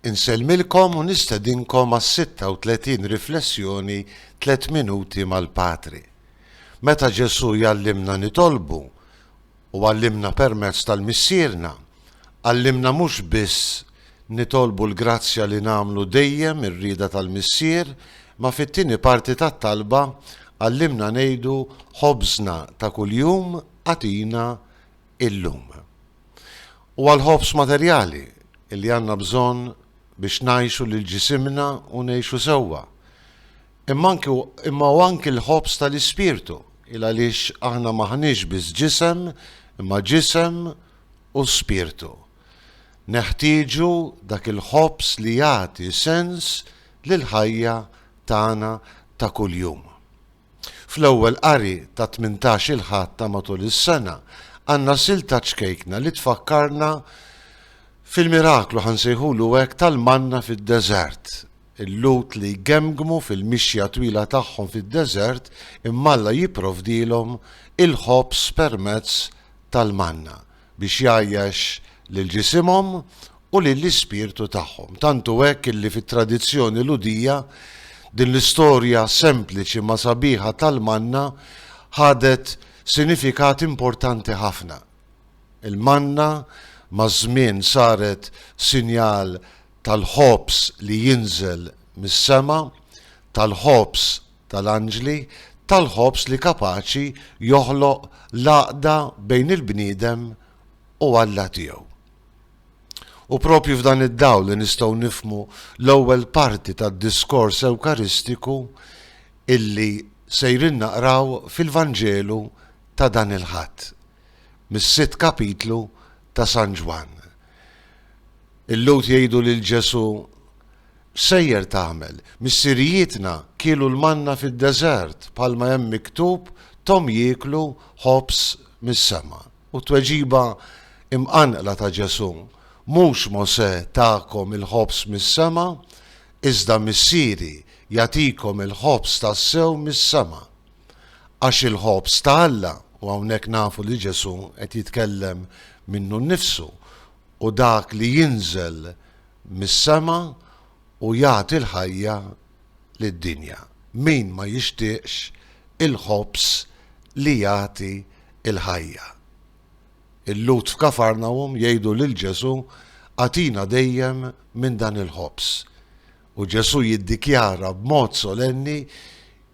Insellmilkom u nistedinkom għas-36 riflessjoni Tliet Minuti mal-Patri. Meta Ġesù jgħallimna nitolbu u għallimna permezz tal-Missierna, għallimna mhux biss nitolbu l-grazzja li nagħmlu dejjem ir-rieda tal-Missier, ma fit-tieni parti tat-talba għallimna ngħidu Ħobżna ta' kuljum agħtina illum. Huwa l-ħobż materjali li għandna bżonn biex ngħixu lil ġisimna u ngħixu sewwa. Imma anki imma hu anki l-ħobż tal-ispirtu, il għaliex aħna m'aħniex biss ġisem, imma ġisem u spirtu. Neħtieġu dak il-ħobż li jagħti sens lill-ħajja tagħna ta' kuljum. Fl-ewwel qari ta' tmintax il-Ħadd ta' matul is-sena għandna sil ta' ċkejkna li tfakkarna fil-miraklu, ħa nsejħulu hekk, tal-manna fid-deżert. Il-Lhud li jgemmgmu fil-mixja twila tagħhom fid-deżert imma Alla jipprovdilhom il-ħobż permezz tal-manna. biex jgħajjax lil ġisimhom u lill-ispirtu tagħhom. Tant hu hekk illi fit-tradizzjoni Lhudija din l-istorja sempliċi ma sabiħa tal-manna ħadet sinifikat importanti ħafna. Il-manna maż-żmien saret sinjal tal-ħobż li jinżel mis-sema, tal-ħobż tal-anġli tal-ħobż li kapaċi joħloq l-għaqda bejn il-bniedem u Alla tiegħu. U propju f'dan id-dawl li nistgħu nifhmu l-ewwel parti tad-diskors Ewkaristiku illi sejrin naqraw fil-Vanġelu ta' dan il-Ħadd, mis-sitt kapitlu ta' San Ġwann. Il-Lhud jgħidu lil Ġesù, Sejjer tagħmel? Missirijietna kielu l-manna fid-deżert, bħalma hemm miktub, Thom jieklu ħobż mis-sema. U t-tweġiba imqanqla ta' Ġesù, Mhux Mosè takom il-ħobż mis-sema, iżda Missieri jagħtikom il-ħobż tassew mis-sema. Għax il-ħobż ta' Alla, u hawnhekk nafu li Ġesù qed jitkellem minnu nnifsu, hu dak li jinżel mis-sema u jagħti l-ħajja lid-dinja. Min ma jixtieqx il-ħobż li jagħti l-ħajja? Il-Lhud f'Kafarnawm jgħidu lil Ġesù, Agħtina dejjem minn dan il-ħobż. U Ġesù jiddikjara b'mod solenni,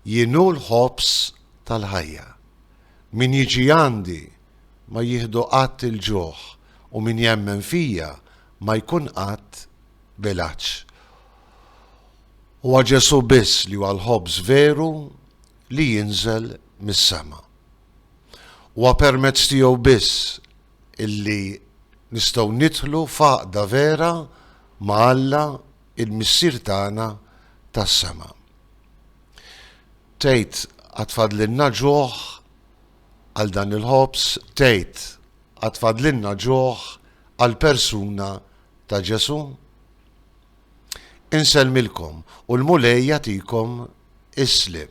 Jien hu l-ħobż tal-ħajja. Min jiġi għandi ma jieħdu qatt il-ġuħ u min jemmen fija ma jkun qatt bilanċ. Huwa Ġesù biss li huwa l-ħobż veru li jinżel mis-sema. Huwa permezz tiegħu biss illi nistgħu nidħlu f'għaqda vera ma' Alla il-Missier tagħna tas-sema. Tgħid għad fadlilna ġuħ għal dan il-ħobż, tgħid, Għad fadlilna ġuħ għall-persuna ta' Ġesù? Insellmilkom u l-Mulej jagħtikom is-sliem.